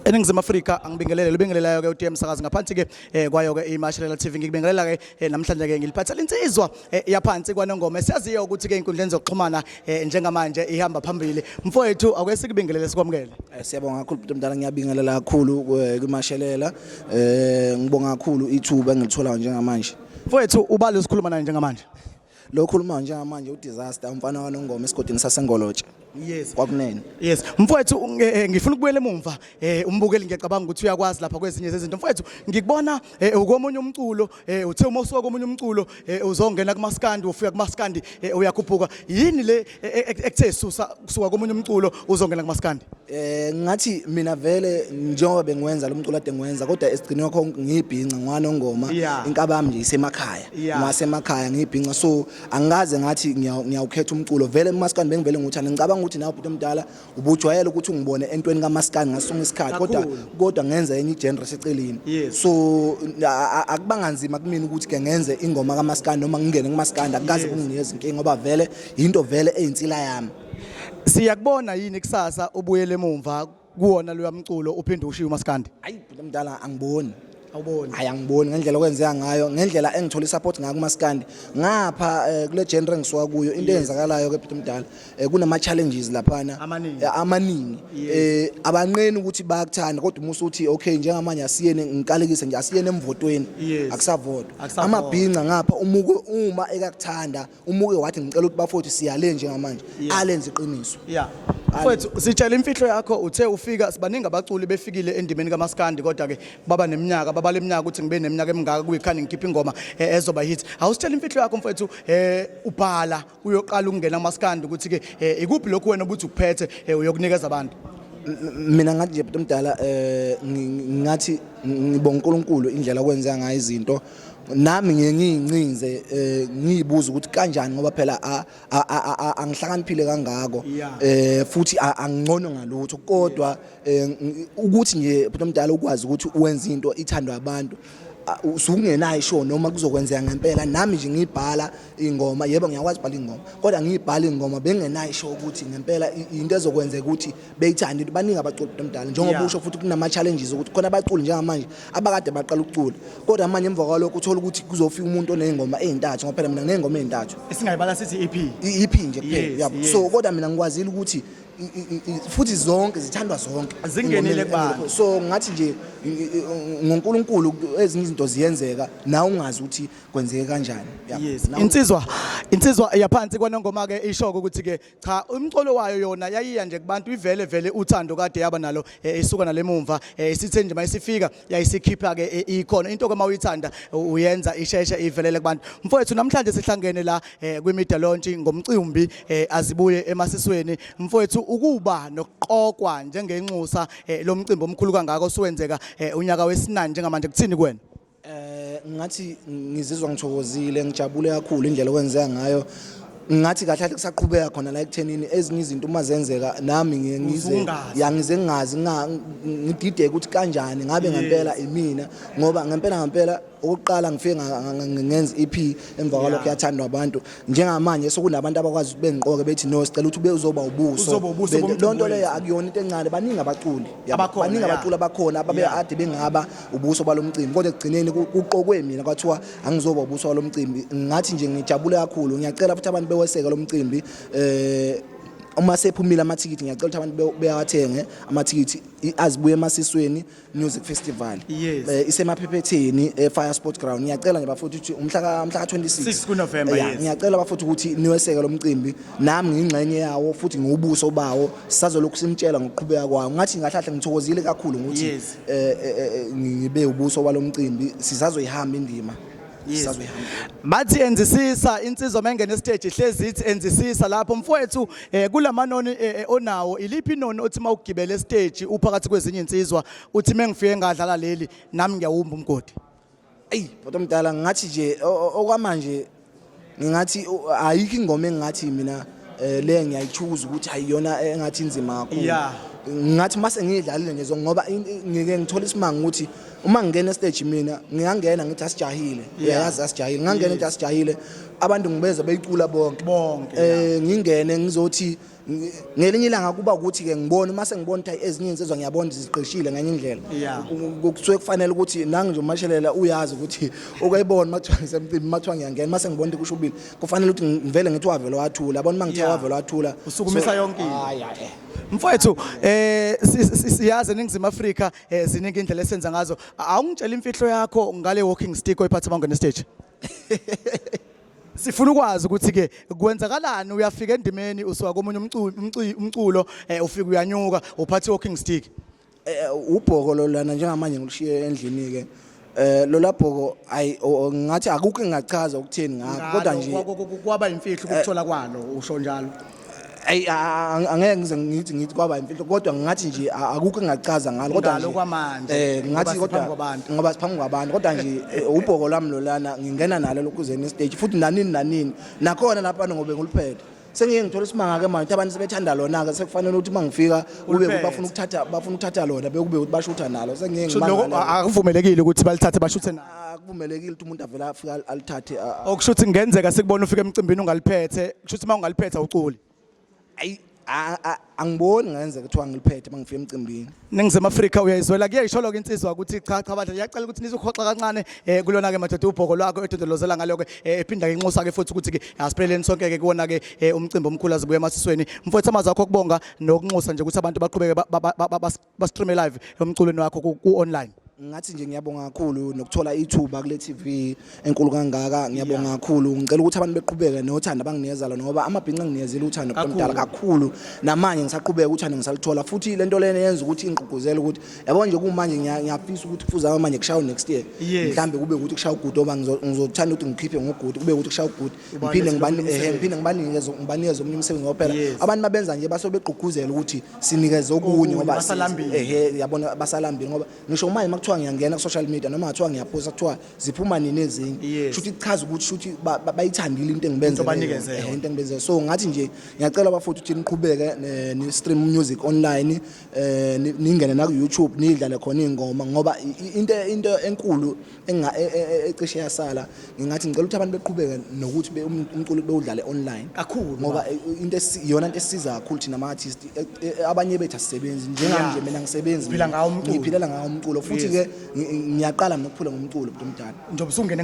eningizimu afrika angibingelele libingelelayo-ke utm sakazi ngaphansi-ke um kwayo-ke imashelela TV ngikubingelela-ke um namhlanje-ke ngiliphathela insizwa um yaphansi kwanongoma esiyaziyo ukuthi-ke ey'nkundleni zokuxhumana um njengamanje ihamba phambili mfowethu awuke sikubingelele sikwamukele siyabonga kakhulu bhuti mdala ngiyabingelela kakhulu kwimashelela um ngibonga kakhulu ithuba engilitholayo njengamanje mfowethu ubali osikhuluma naye njengamanje lo khuluma njengamanje udisaster umfana wanongoma esigodini sasengolotshe yes kwakunene yes mfowethu eh, eh, ngifuna ukubuyela emumva eh, umbukeli ngiyacabanga ukuthi uyakwazi lapha kwezinye zezinto mfowethu ngikubona ukomunye umculo uthe uma usuka komunye umculo uzongena kumaskandi ufika kumaskandi uyakhuphuka yini le E- e- e- ekuthe susa kusuka komunye umculo uzongena kumaskandi Eh ngathi mina vele njengoba bengiwenza lo mculo ade ngiwenza kodwa esigcine kwakho ngiyibhinca ngwanongoma Yeah. inkaba yami nje isemakhaya Yeah. ngasemakhaya ngiyibhinca so angikaze ngathi ngiyaw- ngiyawukhetha umculo vele umaskandi bengivele ngikuthanda ngicabanga ukuthi nawe bhuti omdala ubujwayele ukuthi ungibone entweni kamaskani ngasinga isikhathi kodwa kodwa ngenza enye igenre seceleni so akubanga nzima kumina ukuthi ke ngenze ingoma kamaskani noma ngingene kumaskani akukaze kunginika izinkinga ngoba vele yinto vele eyinsila yami siyakubona yini kusasa ubuyele emumva kuwona loya mculo uphinde ushiye umaskandi ayi mdala angiboni awuboni hayi angiboni ngendlela okwenzeka ngayo ngendlela engithola isupport ngayo kumaskandi ngapha eh, kule genre engisuka kuyo into eyenzakalayo ke Peter Mdala eh, kunama challenges laphana Amaningi. eh, amaningi eh abanqeni ukuthi bayakuthanda kodwa umusa uthi okay njengamanje asiyene ngikalekise nje asiyene emvotweni Yes. akusavotwa Akusavotwa. amabhinca ngapha umuko uma ekakuthanda umuke wathi ngicela ukuthi bafowethu siyale njengamanje alenze iqiniso yeah mfowethu sitshela imfihlo yakho uthe ufika sibaningi abaculi befikile endimeni kamaskandi kodwa ke baba neminyaka baba leminyaka ukuthi ngibe neminyaka emingaka kuyikhani ngikhipha ingoma eh, ezoba hit awusitshela imfihlo yakho mfowethu eh ubhala uyoqala ukungena kamaskandi ukuthi ke eh, ikuphi lokhu wena ubuthi ukuphethe eh, uyokunikeza abantu mina ngathi nje bhuti omdala eh ngathi ngibonga uNkulunkulu indlela okwenzeka ngayo izinto nami ngiye ngiyincinze eh, ngiyibuza ukuthi kanjani ngoba phela angihlakaniphile kangako eh futhi angcono ngalutho kodwa eh, ukuthi nje bhuti omdala ukwazi ukuthi wenza into ithandwa abantu usungenayo isho noma kuzokwenzeka ngempela nami nje ngibhala ingoma yebo ngiyakwazi ubhala ingoma kodwa ngiyibhala ingoma bengenayisho ukuthi ngempela into ezokwenzeka ukuthi beyithande ukuthi baningi abaculi omdala njengoba usho futhi kunama challenges ukuthi khona abaculi njengamanje abakade baqala ukucula kodwa manje emva kwalokho uthola ukuthi kuzofika umuntu onezingoma ezintathu ngoba phela mina nginezingoma ezintathu esingayibala sithi EP EP nje kuphela yabo so kodwa mina ngikwazile ukuthi futhi zonke zithandwa zonke zingenile kubani so ngathi nje ngoNkulunkulu ezinye izinto ziyenzeka na ungazi ukuthi kwenzeke kanjani Yabo. Yes. Nawu- Insizwa insizwa yaphansi kwanongoma ke ishoko ukuthi ke cha umcolo wayo yona yayiya nje kubantu ivele vele uthando kade yaba nalo eh, isuka nalemumva eh, isithe nje mayisifika yayisikhipha ke eh, ikhona into ke mawuyithanda u- uyenza isheshe ivelele kubantu mfowethu namhlanje sihlangene la eh, kwimedia launch ngomcimbi eh, azibuye emasisweni mfowethu ukuba nokuqokwa njengenxusa eh, lomcimbi omkhulu kangaka osuwenzeka eh, unyaka wesinani njengamanje kuthini kuwena Eh ngathi ngizizwa ngithokozile ngijabule kakhulu indlela okwenzeka ngayo ngathi kahle kahle kusaqhubeka khona la ekuthenini ezinye izinto uma zenzeka nami ngiye ngize Uzungazi. ya ngize ngingazi nga- ngidideke ukuthi kanjani ngabe ngempela imina ngoba ngempela ngempela okokuqala ngifike nga- nga- nga- ngenza EP emva kwalokho yathandwa abantu njengamanje sokunabantu abakwazi ukuthi bengiqoke bethi no sicela ukuthi ube uzoba ubuso lo nto leyo akuyona into encane baningi abaculi baningi abaculi abakhona ababe ade bengaba ubuso balo mcimbi kodwa ekugcineni kuqokwe mina kwathiwa angizoba ubuso balo mcimbi ngathi nje ngijabule kakhulu ngiyacela futhi abantu beweseke lo mcimbi eh uma sephumile amathikithi ngiyacela ukuthi abantu beyawathenge amathikithi azibuye emasisweni Music Festival Yes. eh, isemaphephetheni eFire Sports Ground ngiyacela nje bafowethu ukuthi umhla ka mhla ka 26 6 kuNovember, Yeah, yes. ngiyacela bafowethu ukuthi niweseke lo mcimbi nami ngingxenye yawo futhi ngiwubuso bawo sazolokhu simtshela ngokuqhubeka kwawo ngathi ngahlahla ngithokozile kakhulu ngokuthi Yes. eh, eh, eh, ngibe ubuso walo mcimbi sisazoyihamba indima Yizwe. Bathi enzisisa insizwa mengene stage ihlezi ithi enzisisa lapho mfowethu eh, kulamanoni eh, eh, onawo iliphi inoni othi mawugibele stage uphakathi kwezinye insizwa uthi mengifike ngadlala leli nami ngiyawumba umgodi. Eyi bhuti omdala ngathi nje o- o- okwamanje ngingathi ayikho ingoma engingathi mina eh, le ngiyayithuza ukuthi ayiyona engathi inzima kakhulu yeah ngathi mase ngidlalile nje ngoba ngike ngithola isimanga ukuthi uma ngingena stage mina ngiyangena ngithi asijahile uyayazi asijahile ngangena ngithi asijahile abantu ngibeza beyicula bonke bonke eh ngingene ngizothi ngelinye ilanga kuba ukuthi ke ngibona uma sengibona ukuthi ezinye insizwa ngiyabona ziqeshile ngenye indlela kusuke kufanele ukuthi nangi nje umashelela uyazi ukuthi ukayibona uma kuthiwa ngisemcimbi uma kuthiwa ngiyangena uma sengibona ukuthi kusho ubili kufanele ukuthi ngivele ngithi wavele wathula abona uma ngithe wavele wathula usukumisa yonke into mfowethu eh siyazi eningizimu Afrika eh, ziningi indlela esenza ngazo awungitshela imfihlo yakho ngale walking stick oyiphatha bangena stage sifuna ukwazi ukuthi ke kwenzakalani uyafika endimeni usuka komunye umculo eh, ufika uyanyuka uphathe walking stick eh, ubhoko lolana njengamanje ngilushiye endlini ke eh lolabhoko ayi ngathi akukho engachaza ukutheni ngakho kodwa nje kwaba imfihlo ukuthola kwalo usho njalo ayi a- a- angeke ngize ngithi ngithi kwaba imfihlo kodwa ngathi nje a- akukho engachaza ngalo kodwa Ngalo nje- kwamanje, eh ngoba ngathi siphambi kodwa kwabantu. ngoba siphambi kwabantu kodwa nje eh, ubhoko lwami lolana ngingena nalo lokuzeni istage futhi nanini nanini nakhona lapha ngobe nguliphethe sengiye ngithola isimanga ke manje abantu sebethanda lona ke sekufanele ukuthi mangifika kube Uliphethe. bafuna ukuthatha bafuna ukuthatha lona bekube ukuthi bashutha nalo sengiye Sho lokho ngimangale. a- akuvumelekile ukuthi balithathe bashuthe nayo akuvumelekile ukuthi umuntu avele afike al- alithathe a- a- okusho ukuthi kungenzeka sikubona ufika emcimbini ungaliphethe kusho ukuthi uma ungaliphethe awuculi ayi a- a- angiboni ngenzeka kuthiwa ngiliphethe uma ngifika emcimbini ningizimu afrika uyayizwela kuyayisholo-ke insizwa ukuthi cha cha badla yacela ukuthi nizohoxa kancane um kulona-ke madoda ubhoko lwakho edondolozela ngalo-ke um ephinda-ke inxusa-ke futhi ukuthi-ke asipheleleni sonke-ke kuwona-ke um umcimbi omkhulu azibuye emasisweni mfowethu amazwi akho okubonga nokunxusa nje ukuthi abantu baqhubeke ba- ba- ba- ba- bas- bastreame live emculweni wakho ku-online ngathi nje ngiyabonga kakhulu nokuthola ithuba kule TV enkulu kangaka ngiyabonga kakhulu ngicela ukuthi abantu beqhubeke nothando abanginikeza lona ngoba amabhinqa nginezile uthando kuqomdala kakhulu namanje ngisaqhubeka uthando ngisalithola futhi lento lena yenza ukuthi ingqugquzele ukuthi yabo nje kumanje ngiyafisa ukuthi kufuza manje kushayo next year mhlambe kube ukuthi kushaya ugudu oba ngizothanda ukuthi ngikhiphe ngogudu kube ukuthi kushaya ugudu ngiphinde ngiphinde ngibanikeze ngibanikeze omunye umsebenzi ngoba phela abantu mabenza nje base begqugquzela ukuthi sinikeze okunye ngoba ehe yabona basalambile ngoba ngisho manje makuthiwa ngiyangena ku-social media noma ngathiwa ngiyaphosta kuthiwa ziphuma nini ezinye shuthi kuchaza ukuthi shuthi bayithandile into engibenzele into engibenzele so ngathi nje ngiyacela bafuthu ukuthi niqhubeke eh, ni-stream music online um ningene naku-youtube nidlale khona iy'ngoma ngoba into enkulu E, e, e, ecishe yasala ngingathi ngicela ukuthi abantu beqhubeke nokuthi umculo bewudlale online kakhulu ngoba into iyona into esiza kakhulu thina ama-artist abanye bethu asisebenzi njenganje mina ngisebenzi ngiphilela ngawo umculo futhi-ke ngiyaqala mina ukuphula ngomculo mntu omdala njengoba usungene